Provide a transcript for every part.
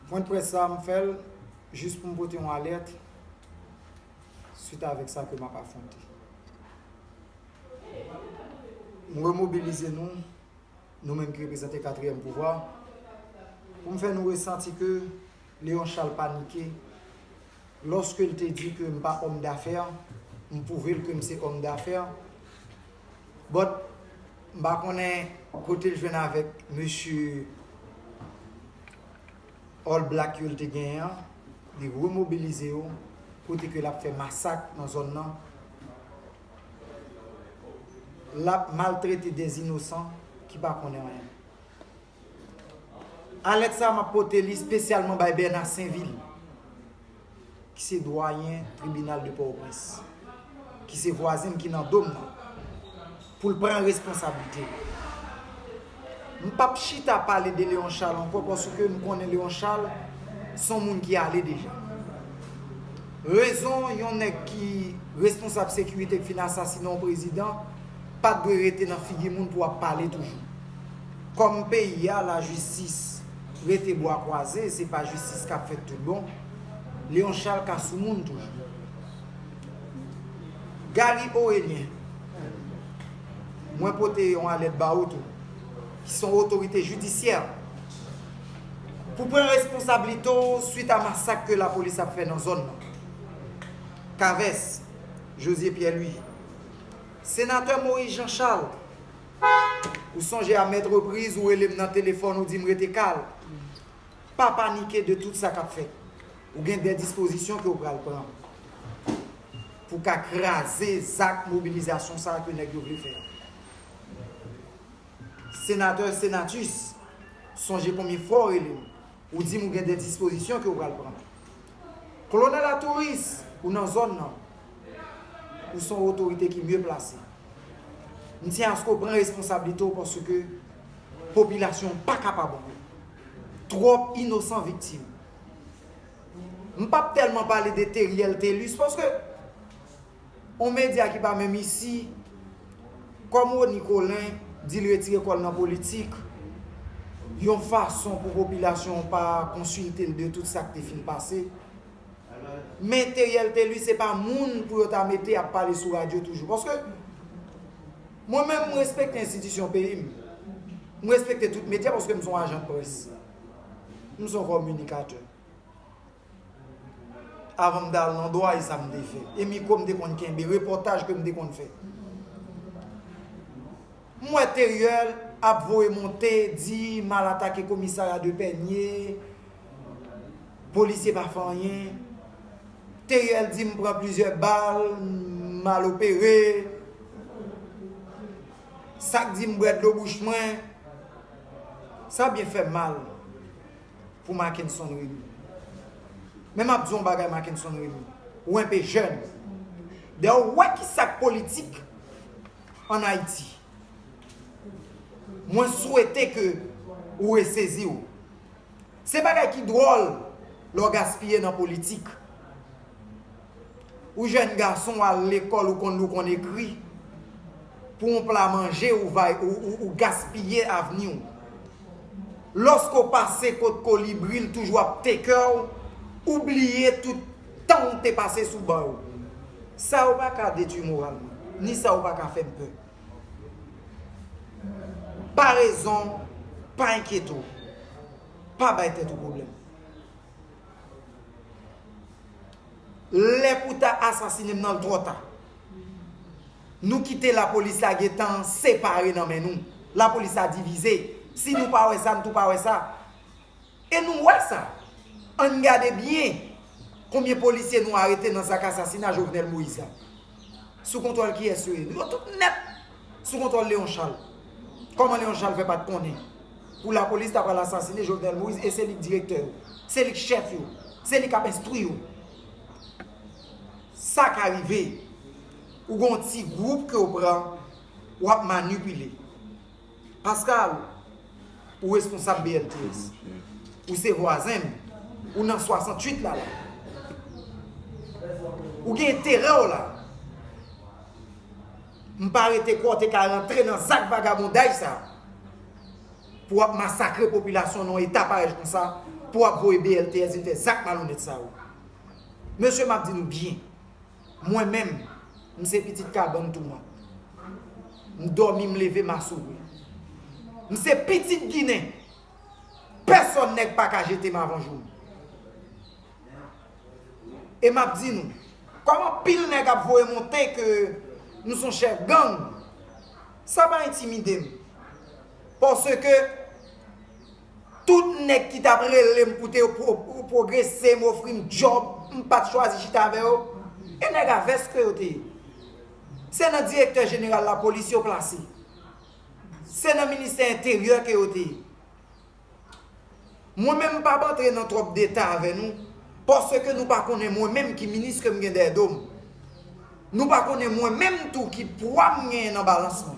Pwen dprès sa m fè l jis pou m pote yon alèt swit avèk sa ke m ap afwonte. M remobilize nou, nou menm ki reprezante katriyèm pouvwa, pou m fè nou resanti ke Leon Charles panike lòske l te di ke m pa òm dafè, m pwouve l ke m se òm dafè, But m pa konnen kote l jwenn avèk mesye All Black yo l te genyen an, li remobilize yo kote ke l ap fè masak nan zòn nan, l ap maltrete dè inosan ki pa konnen anyen. Alèt sa a map pote li spesyalman bay Bernard Sainvil ki se dwayen tribinal de Pòtoprens, ki se vwazen m ki nan do m nan, pou l pran responsablite l. M pap chita pale de Léon Charles ankò paske m konnen Léon Charles s on moun ki ale deja. Rezon yon nèg ki responsab sekirite k fin asasinen yon prezidan pat dwe rete nan figi moun pou ap pale toujou. Kòm peyi a la jistis rete bwa kwaze se pa jistis kap fèt tout bon Léon Charles ka sou moun toujou Gary Orelien mwen pote yon alèt ba ou tou ki son otorite jidisyè pou pran responsablite w swit a masak ke la polis ap fè nan zòn nan Caves Josie Pierre Louis Senatè Moïse Jean Charles Ou sonje a mèt repriz ou rele m nan telefòn ou di m rete kal. Pa panike de tout sa k ap fèt. Ou gen de dispozisyon ke ou pral pran pou ka kraze zak mobilizasyon sa ke nèg yo vle fè a. Senatè Senatus, sonje konbyen fwa ou rele m, ou di m ou gen de dispozisyon ke ou pral pran. Kolonèl Atouris, ou nan zòn nan. Ou son otorite ki mye plase. Msye Asko pran responsablite w paske popilasyon an pa kapab ankò. Twòp inosan viktim. M pap tèlman pale de Theriel Thelus paske yon medya ki pa menm isi kòm Rony Colin di l retire kò l nan politik yon fason pou popilasyon an pa konsilte l de tout sa k te fin pase. Men Theriel Thelus se pa moun pou yo ta mete ap pale sou radyo toujou. Paske, mwen menm m respekte enstitisyon peyi m. M respekte tout medya paske m se yon ajan près. M se yon kominikatè. Avan m te al nan dwa e sa m te fè. E mikwo m te konn kenbe, repòtaj ke m te konn fè. M wè Theriel ap voye monte, di mal atake komisarya de Pènye. Polisye pa fè anyen. Theriel di m pran plizyè bal, m al opere. Sa k di m bwè dlo bouch mwen. Sa byen fè mal pou Mackenson Remy. Men m ap di w yon bagay Mackenson Remy, ou enpe jèn. Dayè ou wè ki sa k politik an Ayiti. Mwen swete ke ou resezi w. Se bagay ki dwòl lè w gaspiye nan politik. Ou jèn gason w al lekòl ou konn li w konn ekri. Pou yon pla manje ou gaspiye avni w. Lòske w pase kot kolibri l toujou ap teke w, ou bliye tout tan w te pase sou ban yo. Sa yo pa ka detwi moral mwen, ni sa yo pa ka fè m pè. Pa rezon, pa enkyete w. Pa bay tèt ou pwoblèm. Lè pou ta asasine m nan l twò ta. Nou kite lapolis la gen tan separe nan men nou. Lapolis la divize. Si nou pa wè sa, nou tou pa wè sa. E nou wè sa. Ann gade byen konbyen polisye nou arete nan zak asasina Jovenel Moïse la. Sou kontwòl kiyès yo ye? Nou yo tout nèt sou kontwòl Léon Charles. Kòman Léon Charles fè pat konnen pou lapolis ta pral asasine Jovenel Moïse e se li k direktè yo? Se li k chèf yo? Se li k ap enstwi yo? Sa ka rive. Ou gen yon ti gwoup ke w pran, w ap manipile. Pascal, ou responsab BLTS. Ou se vwazen m. Ou nan 68 la la. Ou gen enterè w la. M pa rete kwè w te ka rantre nan zak vagabondaj sa a pou w ap masakre popilasyon nan yon eta parèj kon sa pou w ap voye BLTS vin fè zak malonèt sa yo. Mesye m ap di nou byen, Mwen menm, m se pitit kabann toumant. M dòmi m leve m assouri. M se pitit ginen, pèsòn nèg pa ka jete m avan jou m. E m ap di nou, kòm anpil nèg ap voye monte ke m son chèf gang, sa pa entimide m. Paske, Tout nèg ki tap rele m koute yo pwogrese, m ofri m djòb, m pat chwazi chita avè yo, e nèg a vès ke yo te ye. Se nan direktè jeneral lapolis yo plase. Se nan ministè enteryè ke yo te ye. Mwen menm m pap antre nan twòp detay avè nou, paske nou pa konnen mwen menm ki minis ke m gen dèyè do m. Nou pa konnen mwen menm tou ki pwa m genyen nan balans mwen.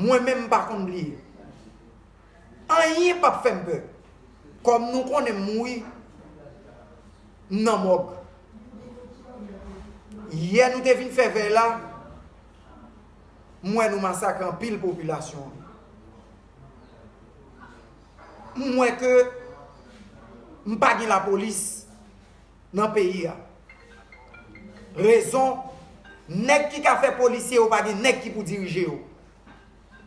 Mwen menm m pa konn bliye. Anyen pap fè m pè. Kòm nou konnen m mouri, m nan mòg. Yè nou te vin fè vèy la, m wè nou masakre anpil popilasyon an. M wè ke m pa gen lapolis. nan peyi a rezon nèg ki ka fè polisye yo pa gen nèg ki pou dirije yo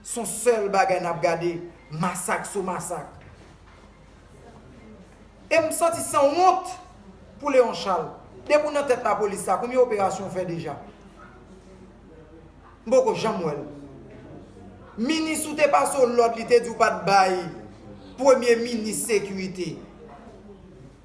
son sèl bagay nap gade masak sou masak em santi san wont pou Leon Charles depi ou nan tèt la polis la konbyen operasyon ou fè deja m poko janm wèl minis ou te pase w lòd li te di w pat bay premye minis sekirite.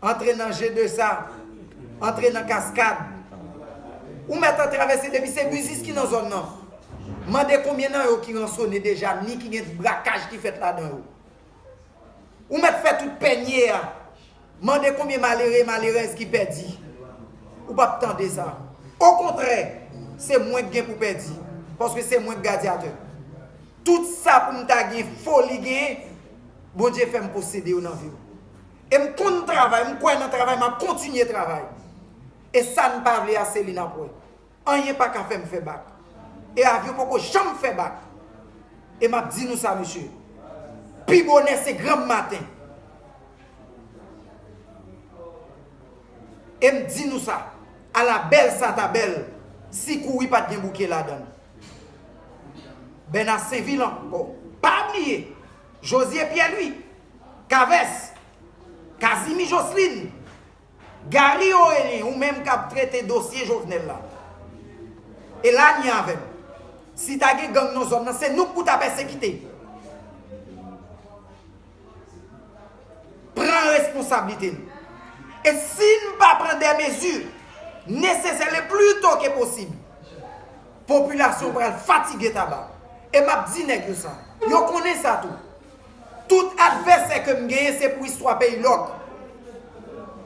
Antre nan je de sa. Antre nan kaskad. Ou mèt an travèse depi se biznis ki nan zòn nan. Mande konbyen nan yo ki ransone deja ni ki gen ti brakaj ki fèt ladan yo. Ou mèt fè tout pènye a. Mande konbyen malere, malerèz ki pèdi. Ou p ap tande sa. Okontrè, se mwen k gen pou pèdi. Paske se mwen k gadyatè. Tout sa pou m ta gen foli genyen, Bondye fè m posede yo nan vi m. E m konn travay, m kwè nan travay, m ap kontinye travay. E sa n pa vle a se li n ap wè. Anyen pa ka fè m fè bak. E avyon poko janm fè bak. E m ap di nou sa mesye, pi bonè se granm maten. E m di nou sa, ala bèl sa ta bèl si kouri pa t gen bouke ladan l. Bèna Senvil ankò. Pa bliye, Jozye Pyèlwi, Kavès, Kazimi Joslin, Gary Orelien ou menm kap trete dosye Jovenel la. E la ni avèm. Si ta gen gang nan zòn nan se nou pou ta pèsekite. Pran responsablite nou. E si nou pa pran dè mezi nesesè le pli to ke posib. Popilasyon pral fatige taba. E map di nèg yo sa. Yo konnen sa tou. Tout advèsè ke m genyen se pou istwa peyi lòk.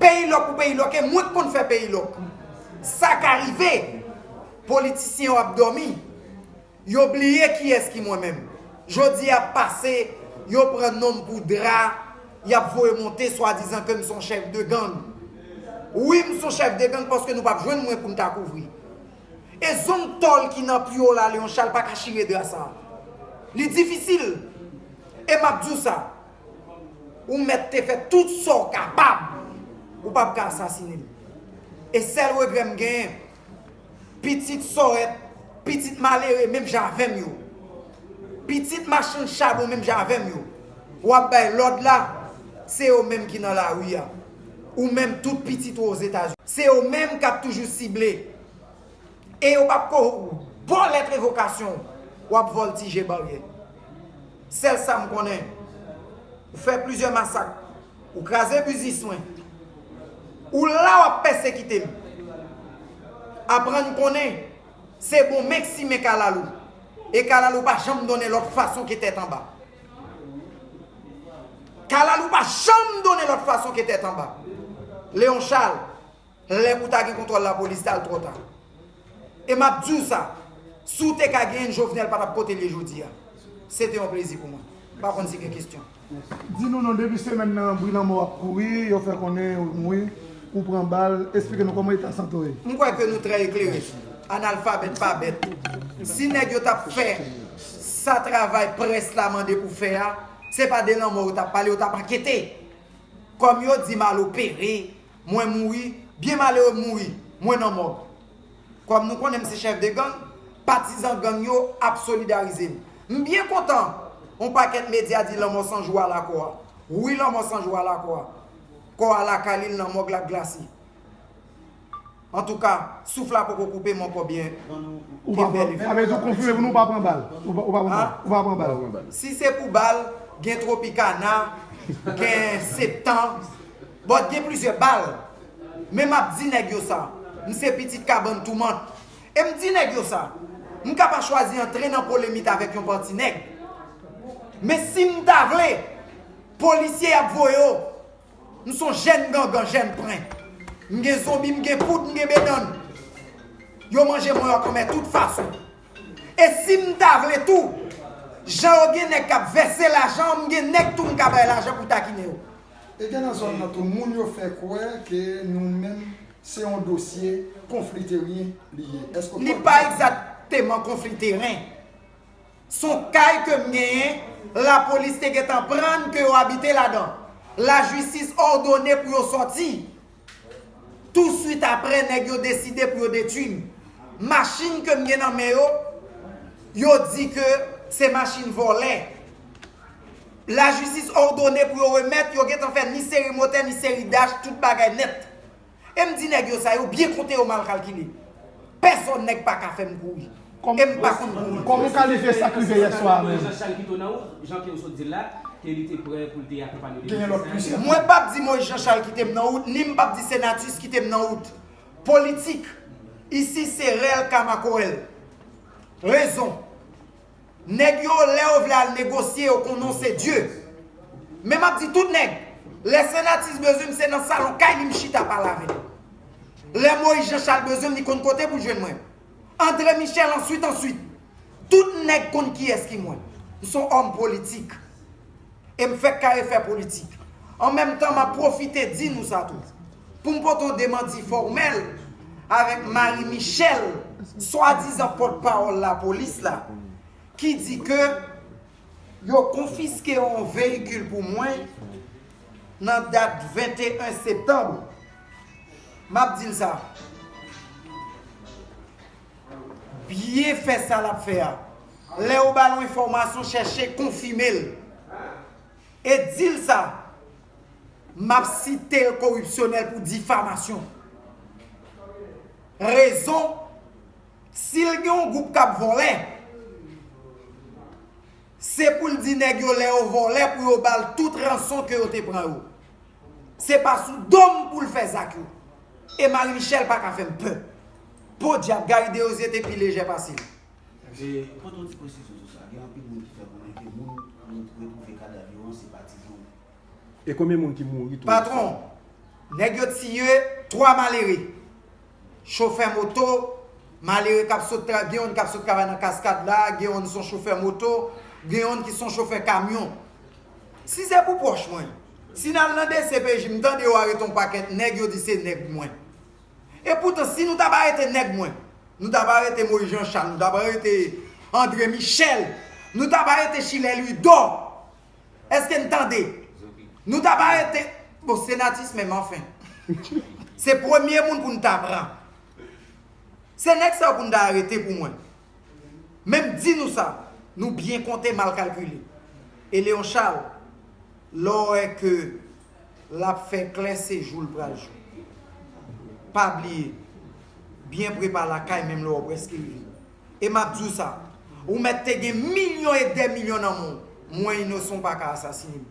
Peyi lòk pou peyi lòk e mwen k konn fè peyi lòk. Sa ka rive, politisyen yo ap dòmi, yo bliye kiyès ki mwen menm. Jodi a ap pase, yo pran non m pou dra, y ap voye monte swadizan ke m son chèf de gang. Wi m son chèf de gang paske nou p ap jwenn mwen pou n ta kouvri. E zong tòl ki nan pye w la Leon Charles pa ka chire dra sa a. Li difisil. E m ap di w sa, Ou mèt te fè tout sa w kapab, ou pap ka asasinen m. E sèl regrè m genyen, pitit Sòrèt, pitit malere menm jan avè m yo, pitit machann chabon menm jan avè m yo, w ap bay lòd la, se yo menm ki nan lari a. Ou menm tout pitit ou ozetazini. Se yo menm kap toujou sible. E yo pap ko baw lèt revokasyon w. Wap voltije baryè. Sèl sam konnen. Ou fè plizyè masak. Ou kraze biznis mwen. Ou la wap pèsekite m. Aprann konnen. Se bon menk simen kalalou. E kalalou pa janm donnen lòt fason ke tèt anba. Kalalou pa janm donnen lòt fason ke tèt anba. Léon Charles, lè pou ta gen kontwòl lapolis tal twò ta. E map diw sa, si w te ka genyen l Jovenel pa tap kotel ye jodi a. Se te yon plezi pou mwen. M pa konn si gen kestyon. Di nou non depi semèn nan bri lanmò ap kouri, yo fè konnen ou mouri, ou pran bal, esplike nou kòman eta sante w ye. M kwè ke nou trè eklere. Analfabèt pa bèt. Si nèg yo tap fè. Sa travay près la mande pou fè a, se pa de lanmò yo tap pale, yo tap ankete. Kòm yo di mal opere, mwen mouri, byen malere m mouri, mwen nan mòg. Kòm nou konnen m se chèf de gang, patizan gang yo ap solidarize m. M byen kontan on pakèt medya di lanmò san jou ala kò a. Wi lanmò san jou ala kò a. Kò a lakay li, l nan mòg l ap glase. Antouka, souf la poko koupe m ankò byen kenbe li fre. Si se pou bal, gen Tropicana, gen Septan, bon gen plizyè bal. Men m ap di nèg yo sa, m se pitit kabann Toumant. E m di nèg yo sa, m ka pa chwazi antre nan polemit avèk yon pati nèg. Men si m ta vle, polisye y ap voye w. M son jèn gangan, jèn pren. M gen zonbi, m gen poud, m gen bedann. Yo manje mwen ak anmè tout fason. E si m ta vle tou, jan yo gen nèg k ap vèse lajan, m gen nèg tou m ka bay lajan pou takinen yo. E gen nan zòn nan tou moun yo fè kwè ke nou menm se yon dosye konfli teryen li ye. Èske w kwè konsa? Li pa egzakteman konfli teren. Son kay ke m genyen, la polis te gentan prann ke yo abite ladan. La jistis òdone pou yo sòti. Tou swit aprè nèg yo deside pou yo detwi m. Machin ke m gen nan men yo, yo di ke se machin vòlè. La jistis òdone pou yo remèt, yo gentan fè ni seri motè ni seri dach, tout bagay nèt. Em di nèg yo sa yo byen konte yo mal kalkile. Pèsòn nèg pa ka fèm kouri. Em pa konn kouri. Kòman w kalifye sa k rive yè swa a menm? Genyen lòt plizyè moun. Mwen pap di Moïse Jean Charles kite m nan wout ni m pap di Senatus kite m nan wout. Politik isi se rèl ka makorèl. Rezon. Nèg yo lè yo vle al negosye yo konnen w se Dieu. Men map di tout nèg, lè Sanatis bezwen m se nan salon kay li m chita pale avè l. Lè Moïse Jean Charles bezwen m li konn kote pou l jwenn mwen. André Michel answit answit. Tout nèg konn kiyès ki mwen. M son homme politique. E m fèk kare fè politik. An menm tan, m ap pwofite di nou sa tou. Pou m pote yon demanti fòmèl avèk Marie Michelle, swadizan pòtpawòl lapolis la, ki di ke yo konfiske yon veyikil pou mwen nan dat 21 septanm, m ap di l sa. Byen fè sa lap fè a. Lè ou ba l yon enfòmasyon chèche konfime l. E di l sa, m ap site l koripsyonèl pou difamasyon. Rezon, si l gen yon gwoup k ap vòlè, se pou l di nèg yo lè yo vòlè pou yo ba l tout ranson ke yo te pran yo. Se pa sou dom poul fè zak yo. E Marie Michelle pa ka fèm pè. Podyab Gary Deosier te pi lejè pase li. Mwen pote yon ti presizyon sou sa. Gen anpil moun ki fè konnen ke moun nou retwouve kadav yo an se pa ti zo. E konbyen moun ki mouri tou? Patron, nèg yo tiye 3 malere. Chofè moto, malere kap sot travay, gen youn kap sot travay nan kaskad la, gen youn son chofè moto, gen youn ki son chofè kamyon. Si se pou pwòch mwen, Si nal nan dcpj m tande yo arete yon pakèt nèg yo di se nèg mwen. E poutan si nou tap arete nèg mwen nou tap arete Moïse Jean Charles nou tap arete André Michel nou tap arete Schiller Louidor eske n tande nou tap arete bon Senatus menm anfen se premye moun pou n ta pran se nèg sa yo pou n ta arete pou mwen. Menm di nou sa, nou byen konte mal kalkile. E Leon Charles, lè w wè ke l ap fè klè se jou l pral jou. Pa bliye, byen pre pa lakay menm lè w prèske rive. E m ap di w sa, ou mèt te gen milyon e dè milyon nan men w, mwen Inosan w pa ka asasine m.